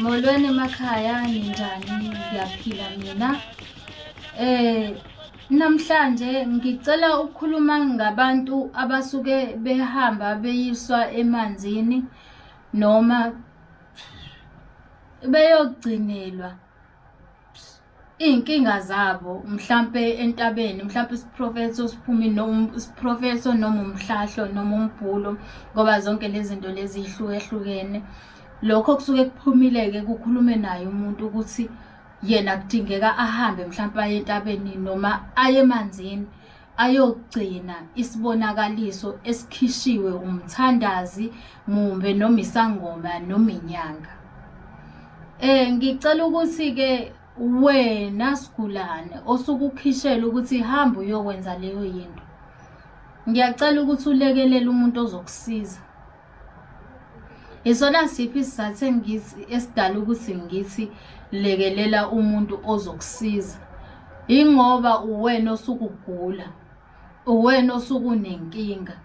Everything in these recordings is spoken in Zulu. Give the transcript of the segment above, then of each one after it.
Molweni emakhaya ninjani ngiyaphila mina eh namhlanje ngicela ukukhuluma ngabantu abasuke behamba beyiswa emanzini noma beyogcinelwa iy'nkinga zabo mhlampe entabeni mhlampe isiprofetho siphumi noma isiprofetho noma umhlahlo noma umbhulo ngoba zonke lezi zinto lezi yihlukehlukene lokho kusuke kuphumile-ke kukhulume naye umuntu ukuthi yena kudingeka ahambe mhlampe aye entabeni noma aye emanzini ayogcina isibonakaliso esikhishiwe umthandazi mumbe noma isangoma noma inyanga eh ngicela ukuthi ke wena sigulane osukukhishela ukuthi hamba uyokwenza leyo yinto ngiyacela ukuthi ulekelele umuntu ozokusiza Isona siphi isizathu engithi esidala ukuthi ngithi lekelela umuntu ozokusiza. Ingoba uwena osukugula, uwena osukunenkinga.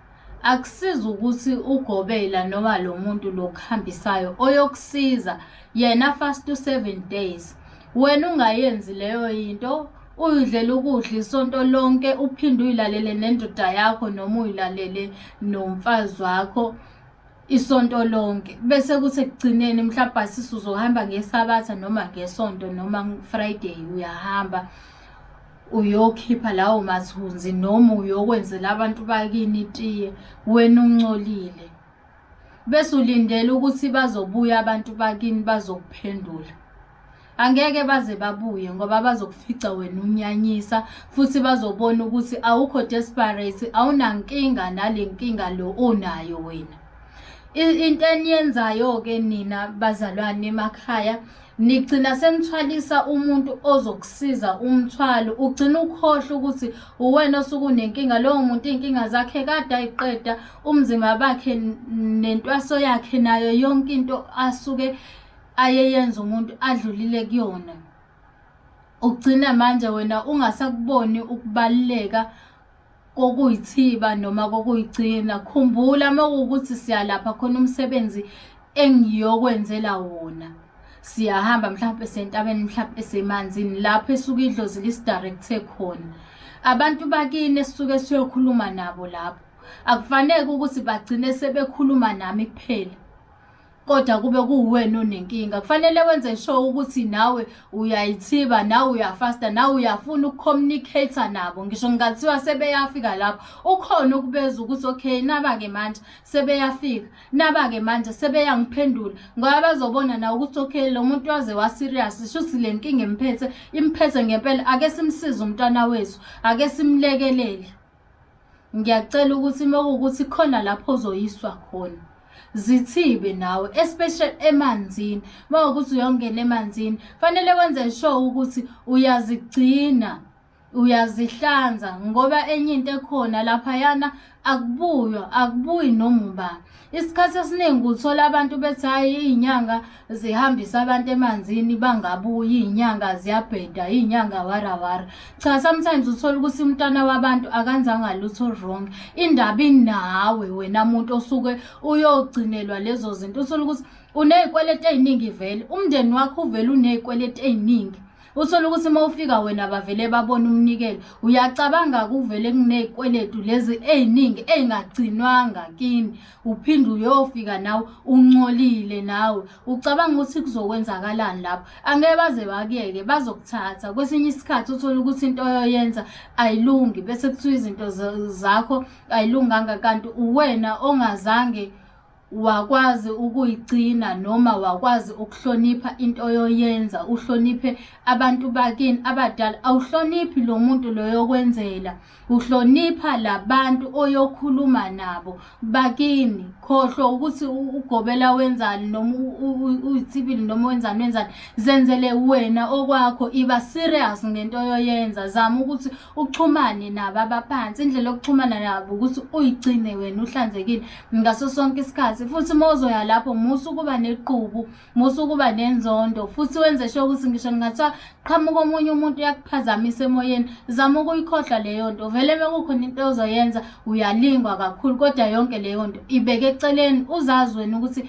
Akusizi ukuthi ugobela noma lo muntu lo kuhambisayo oyokusiza yena fast to seven days. wena ungayenzi leyo yinto uyidlela ukudla isonto lonke uphinde uyilalele nendoda yakho noma uyilalele nomfazi wakho isonto lonke bese kuthi ekugcineni mhlawumbe asisi uzohamba ngesabatha noma ngesonto noma friday uyahamba uyokhipha lawo mathunzi noma uyokwenzela abantu bakini itiye wena uncolile bese ulindele ukuthi bazobuya abantu bakini bazokuphendula angeke baze babuye ngoba bazokufica wena unyanyisa futhi bazobona ukuthi awukho desperate awunankinga nale nkinga lo onayo wena into eniyenzayo-ke nina bazalwane emakhaya nigcina senithwalisa umuntu ozokusiza umthwalo ugcina ukhohlwa ukuthi uwena osuke unenkinga lowo muntu iy'nkinga zakhe kade ayiqeda umzimba bakhe nentwaso yakhe nayo yonke into asuke ayeyenza umuntu adlulile kuyona ugcina manje wena ungasakuboni ukubaluleka kokuyithiba noma kokuyigcina khumbula uma kuwukuthi siyalapha khona umsebenzi engiyokwenzela wona siyahamba mhlawumpe sentabeni mhlawumpe esemanzini lapho esuke idlozi lisidirecthe khona abantu bakini esisuke siyokhuluma nabo lapho akufanele ukuthi bagcine sebekhuluma nami kuphela kodwa kube kuwena onenkinga kufanele wenze sure ukuthi nawe uyayithiba nawe uyafasta nawe uyafuna ukucommunicate nabo ngisho ngingathiwa sebeyafika lapho ukhona ukubeza ukuthi okay naba-ke manje sebeyafika naba-ke manje sebeyangiphendula ngoba bazobona nawe ukuthi okay lo muntu waze waserious shuthi le nkinga imphethe imphethe ngempela ake simsize umntwana wethu ake simlekelele ngiyacela ukuthi uma kuwukuthi khona lapho ozoyiswa khona zithibe nawe especially emanzini uma ukuthi uyongena emanzini fanele wenze sure ukuthi uyazigcina uyazihlanza ngoba enye into ekhona laphayana akubuywa akubuyi noma ubani isikhathi esiningi uthola abantu bethi hhayi iy'nyanga zihambisa abantu emanzini bangabuyi iy'nyanga ziyabheda iy'nyanga warawara cha sometimes uthola ukuthi umntwana wabantu akanzanga lutho wrong indaba inawe wena muntu osuke uyogcinelwa lezo zinto uthole ukuthi uney'kweleti ey'ningi vele umndeni wakho uvele uney'kweleti ey'ningi uthole ukuthi uma ufika wena bavele babona umnikelo uyacabanga kuvele kuney'kweletu lezi ey'ningi ey'ngagcinwanga kini uphinde uyofika nawe uncolile nawe ucabanga ukuthi kuzokwenzakalani lapho angeke baze bakuyeke bazokuthatha kwesinye isikhathi uthole ukuthi into oyoyenza ayilungi bese kuthiwa izinto zakho ayilunganga kanti uwena ongazange wakwazi ukuyigcina noma wakwazi ukuhlonipha into oyoyenza uhloniphe abantu bakini abadala awuhloniphi lo muntu loyokwenzela uhlonipha labantu oyokhuluma nabo bakini khohlwa ukuthi ugobela wenzani noma uyithibili noma wenzani wenzani zenzele wena okwakho iba serious ngento oyoyenza zama ukuthi uxhumane nabo abaphansi indlela yokuxhumana nabo ukuthi uyigcine wena uhlanzekile ngaso sonke isikhathi futhi uma uzoya lapho musa ukuba nequbu musa ukuba nenzondo futhi wenze sho ukuthi ngisho ngingathiwa qhamuka omunye umuntu uyakuphazamisa emoyeni zama ukuyikhohlwa leyo nto vele uma kukhona into ozoyenza uyalingwa kakhulu kodwa yonke leyo nto ibeke eceleni uzazi wena ukuthi